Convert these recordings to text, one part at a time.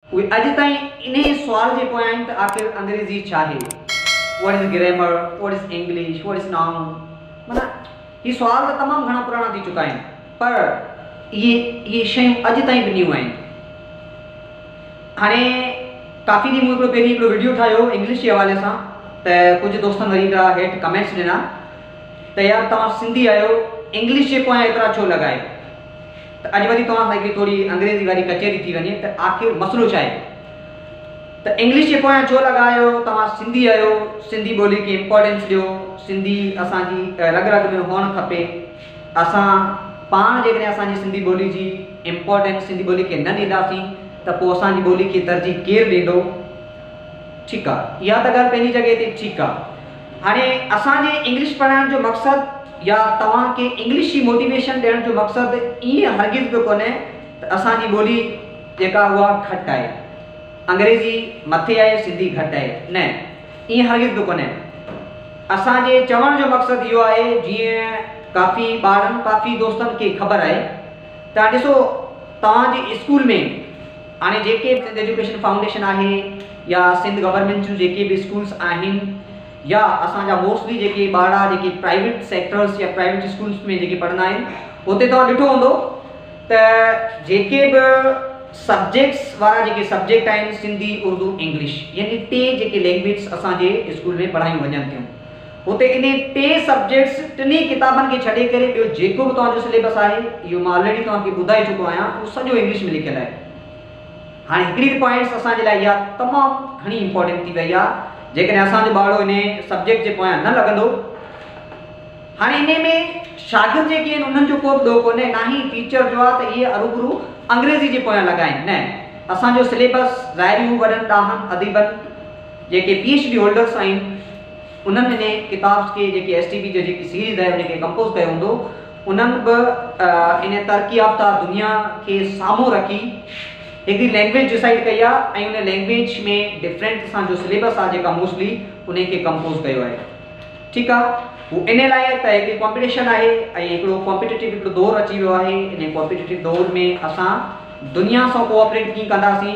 اهي اڄ تائين انهيء سوال جي پويان آهن ته آخر انگريزي ڇا آهي؟ What is grammar? What is English? What is noun? معنيٰ هي سوال ته تمام گهڻا پراڻا ٿي چڪا آهن پر اهي اهي شيون اڄ تائين به نيون آهن. هاڻي ڪافي ڏينهن مون هڪڙو پهرين هڪڙو وڊيو ٺاهيو انگلش جي حوالي سان ته ڪجهه دوستن وري هڪڙا هيٺ ڪمينٽس ڏنا ته يار توهان سنڌي آهيو انگلش جي پويان ايترا ڇو لڳا آهيو؟ ته اڄ وري توهان سان ڪي توڙي انگريزي واري ڪچهري ٿي وڃي ته آخر مسئلو ڇا آهي؟ ته انگلش جي پويان ڇو لڳا آهيو، توهان سنڌي آهيو، سنڌي ٻولي کي امپارٽنس ڏيو، سنڌي اسان جي رڳ رڳ ۾ هئڻ کپي، اسان پاڻ جيڪڏهن اسان جي سنڌي ٻولي جي امپارٽنس سنڌي ٻولي کي نه ڏينداسين ته پوء اسان جي ٻولي کي ترجيح ڪير ڏيندو؟ ٺيڪ آهي اها ته ڳالهه پنهنجي جڳهه تي ٺيڪ آهي. هاڻي اسان جي انگلش پڙهائڻ جو مقصد يا توهان کي انگلش جي موٽيويشن ڏيڻ جو مقصد ائين هرگز به ڪونهي ته اسان جي ٻولي جيڪا اها گهٽ آهي. انگريزي مٿي آهي سنڌي گهٽ آهي. نه ائين هرگز به ڪونهي. اسان جي چوڻ جو مقصد اهو آهي جيئن ڪافي ٻارن ڪافي دوستن کي خبر آهي ته هاڻي ڏسو توهان جي اسڪول ۾ هاڻي جيڪي به سنڌ ايجوڪيشن فائونڊيشن آهي يا سنڌ گورنمينٽ جون جيڪي به اسڪولس آهن يا اسان جا موسٽلي جيڪي ٻارڙا جيڪي پرائيويٽ سيڪٽرس يا پرائيويٽ اسڪولس ۾ جيڪي پڙهندا آهن هتي توهان ڏٺو هوندو ته جيڪي به سبجيڪٽس وارا جيڪي سبجيڪٽ آهن سنڌي اردو انگلش يعني ٽي جيڪي لينگويجس اسان جي اسڪول ۾ پڙهايون وڃن ٿيون هتي انهي ٽي سبجيڪٽس ٽنهي ڪتابن کي ڇڏي ڪري ٻيو جيڪو به توهان جو سليبس آهي اهو مان آلريڊي توهان کي ٻڌائي چڪو آهيان اهو سڄو انگلش ۾ لکيل آهي هاڻي هڪڙي ته پوائنٽس اسان جي لاء اها تمام گهڻي امپورٽنٽ ٿي وئي آهي جيڪڏهن اسان جو ٻارڙو انهي سبجيڪٽ جي پويان نه لڳندو هاڻي انهي ۾ شاگرد جيڪي آهن انهن جو ڪو به ڏوهه ڪونهي نه هي ٽيچر جو آهي ته اهي اروبرو انگريزي جي پويان لڳا آهن نه اسان جو سليبس ظاهري هو وڏن ڏاهن اديبن جيڪي پي ايڇ ڊي هولڊرس آهن انهن انهي ڪتابس کي جيڪي ايس ٽي بي جي جيڪي سيريز آهي انهي کي ڪمپوز ڪيو هوندو انهن به انهي ترقي يافته دنيا کي سامهون رکي هڪڙي لينگويج ڊسائيڊ ڪئي آهي ۽ انهي لينگويج ۾ ڊفرينٽ اسان جو سليبس آهي جيڪا موسٽلي انهي کي ڪمپوز ڪيو آهي ٺيڪ آهي هو انهي لاء ته هڪڙي ڪامپيٽيشن آهي ۽ هڪڙو ڪامپيٽيٽو هڪڙو دور اچي ويو آهي انهي ڪامپيٽيٽو دور ۾ اسان دنيا سان ڪوآپريٽ ڪيئن ڪنداسين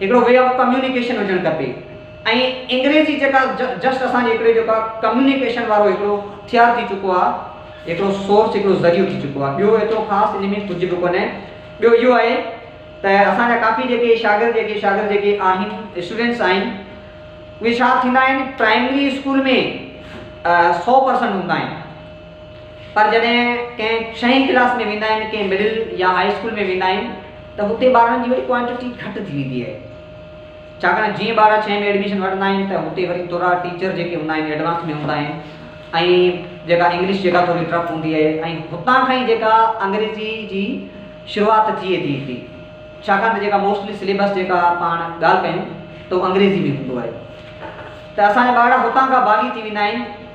هڪڙو وي آف ڪميونيڪيشن هجڻ کپي ۽ انگريزي جيڪا جسٽ اسان جي هڪڙي جيڪا ڪميونيڪيشن وارو هڪڙو هٿيار ٿي چڪو آ هڪڙو سورس هڪڙو ذريعو ٿي چڪو آ ٻيو ايترو خاص ان ۾ ڪجهه به ڪونهي ٻيو اهو آهي ته اسان جا ڪافي جيڪي شاگرد جيڪي شاگرد جيڪي آهن اسٽوڊنٽس آهن اهي ڇا ٿيندا آهن پرائمري اسڪول ۾ سو پرسنٽ هوندا آهن پر جڏهن ڪنهن ڇهين ڪلاس ۾ ويندا آهن ڪنهن مڊل يا هائي اسڪول ۾ ويندا آهن ته هتي ٻارن جي وري ڪوانٽٽي گهٽ ٿي ويندي آهي ڇاڪاڻ جيئن ٻارا ڇهين ۾ ايڊميشن وٺندا آهن ته هتي وري ٿورا ٽيچر جيڪي هوندا آهن ايڊوانس ۾ هوندا آهن ۽ جيڪا انگلش جيڪا ٿوري ٽف هوندي آهي ۽ هتان کان ئي جيڪا انگريزي جي شروعات ٿئي ٿي هتي ڇاڪاڻ ته جيڪا موسٽلي سليبس جيڪا پاڻ ڳالهه ڪيون ته انگريزي ۾ هوندو آهي ته اسان جا ٻارڙا هتان کان باغي ٿي ويندا آهن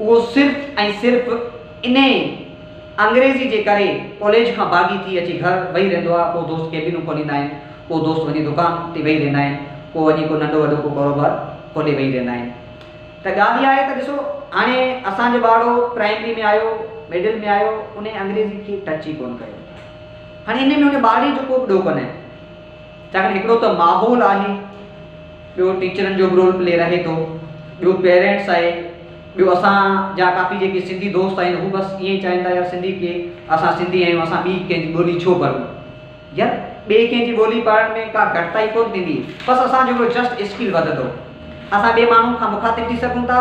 اهو صرف ۽ صرف انهي انگريزي جي ڪري ڪاليج کان ڀاڳي ٿي اچي گهر ويهي رهندو آهي. ڪو دوست ڪيبينون کوليندا آهن، ڪو دوست وڃي دڪان تي ويهي رهندا آهن، ڪو وڃي ڪو ننڍو وڏو ڪو ڪاروبار کولي ويهي رهندا آهن. ته ڳالهه اها آهي ته ڏسو هاڻي اسان جو ٻارڙو پرائمري ۾ آيو، مڊل ۾ آيو، انهي انگريزي کي ٽچ ئي ڪونه ڪيو. هاڻي انهي ۾ انهي ٻارڙي جو ڪو به ڏوهه ڪونه. ڇاڪاڻ هڪڙو ته ماحول آهي ٻيو ٽيچرن جو به رول پلي رهي ٿو ٻيو پيرينٽس آهي ٻيو اسان جا ڪافي جيڪي سنڌي دوست آهن هو بس ائين چاهين ٿا يار سنڌي ڪي اسان سنڌي آهيون اسان ٻي ڪنهن جي ٻولي ڇو پڙهون يار ٻي ڪنهن جي ٻولي پڙهڻ ۾ ڪا گهٽتائي ڪونه ٿيندي بس اسان جو هڪڙو جسٽ اسڪل وڌندو اسان ٻي ماڻهو کان مخاطب ٿي سگهون ٿا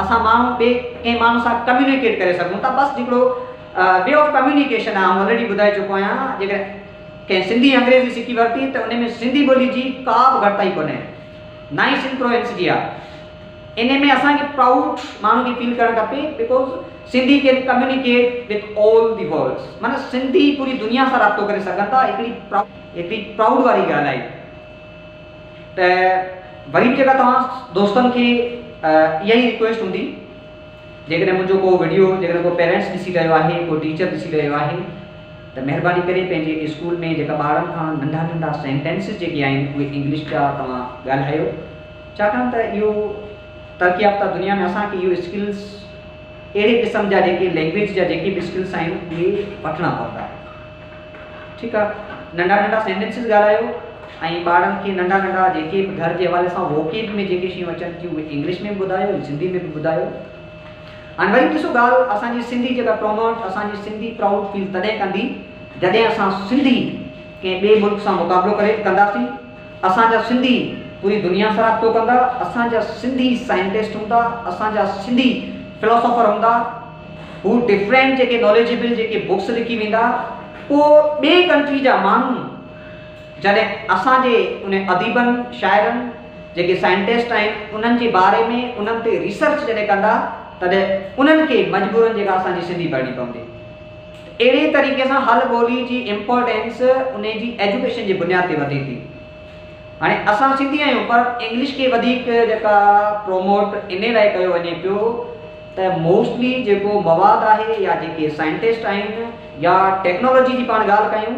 اسان ماڻهو ٻي ڪنهن ماڻهو سان ڪميونيڪيٽ ڪري سگهون ٿا بس جيڪڙو وي آف ڪميونيڪيشن آهي آئون آلريڊي ٻڌائي چڪو آهيان جيڪڏهن ڪنهن سنڌي انگريزي سکي ورتي ته ان ۾ سنڌي ٻولي جي ڪا به گهٽتائي ڪونهي نه ئي سنڌ پرو انس جي آهي. ان ۾ اسان کي پرائوڊ ماڻهن کي فيل ڪرڻ کپي because Sindhi can communicate with all the world's معنيٰ سنڌي پوري دنيا سان رابطو ڪري سگهن ٿا ايتري ايتري پرائوڊ واري ڳالهه آهي ته وري به جيڪا توهان دوستن کي اها ئي ريڪويسٽ هوندي جيڪڏهن منهنجو ڪو وڊيو جيڪڏهن ڪو پيرنٽس ڏسي رهيو آهي ڪو ٽيچر ڏسي رهيو آهي ته مهرباني ڪري پنهنجي اسڪول ۾ جيڪا ٻارن کان ننڍا ننڍا سينٽينسز جيڪي آهن اهي انگلش جا توهان ڳالهايو ڇاڪاڻ ته اهو ترقي يافته دنيا ۾ اسان کي اهو اسڪلز اهڙي قسم جا جيڪي لينگويج جا جيڪي به اسڪلز آهن اهي وٺڻا پوندا ٺيڪ آهي ننڍا ننڍا سينٽينسز ڳالهايو ۽ ٻارن کي ننڍا ننڍا جيڪي به گهر جي حوالي سان ووڪيب ۾ جيڪي شيون اچن ٿيون اهي انگلش ۾ به ٻڌايو ۽ سنڌي ۾ به ٻڌايو هاڻي وري ڏسو ڳالهه اسان جي سنڌي جيڪا پروموٽ اسان جي سنڌي پرائوڊ فيل تڏهن ڪندي جڏهن اسان سنڌي ڪنهن ٻئي ملڪ سان مقابلو ڪري ڪنداسين اسان جا سنڌي پوري دنيا سان رابطو ڪندا اسان جا سنڌي سائنٽسٽ هوندا اسان جا سنڌي فلاسافر هوندا هو ڊفرينٽ جيڪي ناليجبل جيڪي بڪس لکي ويندا پوء ٻئي ڪنٽري جا ماڻهو جڏهن اسان جي ان اديبن شاعرن جيڪي سائنٽسٽ آهن انهن جي باري ۾ انهن تي ريسرچ جڏهن ڪندا تڏهن انهن کي مجبورن جيڪا اسان جي سنڌي ڀرڻي پوندي ته اهڙي طريقي سان هل ٻولي جي امپورٽينس ان جي ايجوڪيشن جي بنياد تي وڌي ٿي هاڻي اسان سنڌي آهيون پر انگلش کي وڌيڪ جيڪا پروموٽ ان لاء ڪيو وڃي پيو ته موسٽلي جيڪو مواد آهي يا جيڪي سائنٽسٽ آهن يا ٽيڪنالاجي جي پاڻ ڳالهه ڪيون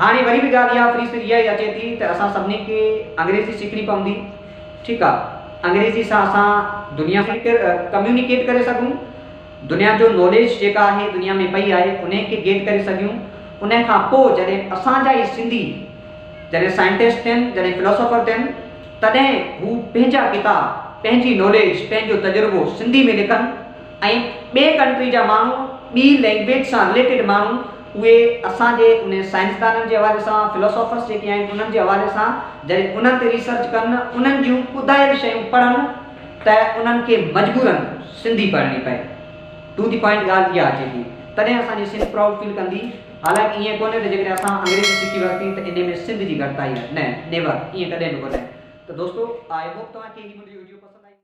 هاڻي وري به ڳالهه اها فري سر اها ئي اچي ٿي ته اسان سڀني کي انگريزي سکڻي پوندي. ٺيڪ آ انگريزي سان اسان دنيا سان ڪير ڪميونيڪيٽ ڪري سگهون، دنيا جو ناليج جيڪا آهي دنيا ۾ پئي آهي انهي کي گيٽ ڪري سگهيون، انهي کان پوء جڏهن اسان جا ئي سنڌي جڏهن سائنٽسٽ ٿين جڏهن فلاسافر ٿين تڏهن هو پنهنجا ڪتاب پنهنجي ناليج پنهنجو تجربو سنڌي ۾ لکن ۽ ٻي ڪنٽري جا ماڻهو ٻي لينگويج سان رليٽيڊ ماڻهو اهي اسان جي ان سائنسدانن جي حوالي سان Philosophers جيڪي آهن انهن جي حوالي سان جڏهن انهن تي ريسرچ ڪن انهن جون ٻڌايل شيون پڙهن ته انهن کي مجبورن سنڌي پڙهڻي پئي ٽو دي پوائنٽ ڳالهه اها اچي ٿي تڏهن اسان جي سنڌ پرائوڊ فيل ڪندي حالانڪه ائين ڪونهي ته جيڪڏهن اسان انگريزي سکي ورتي ته انهي ۾ سنڌ جي گهٽتائي آهي نه نيور ائين ڪڏهن به ڪونهي ته دوستو آء هوپ توهان کي هي منهنجي وڊيو پسند آئي.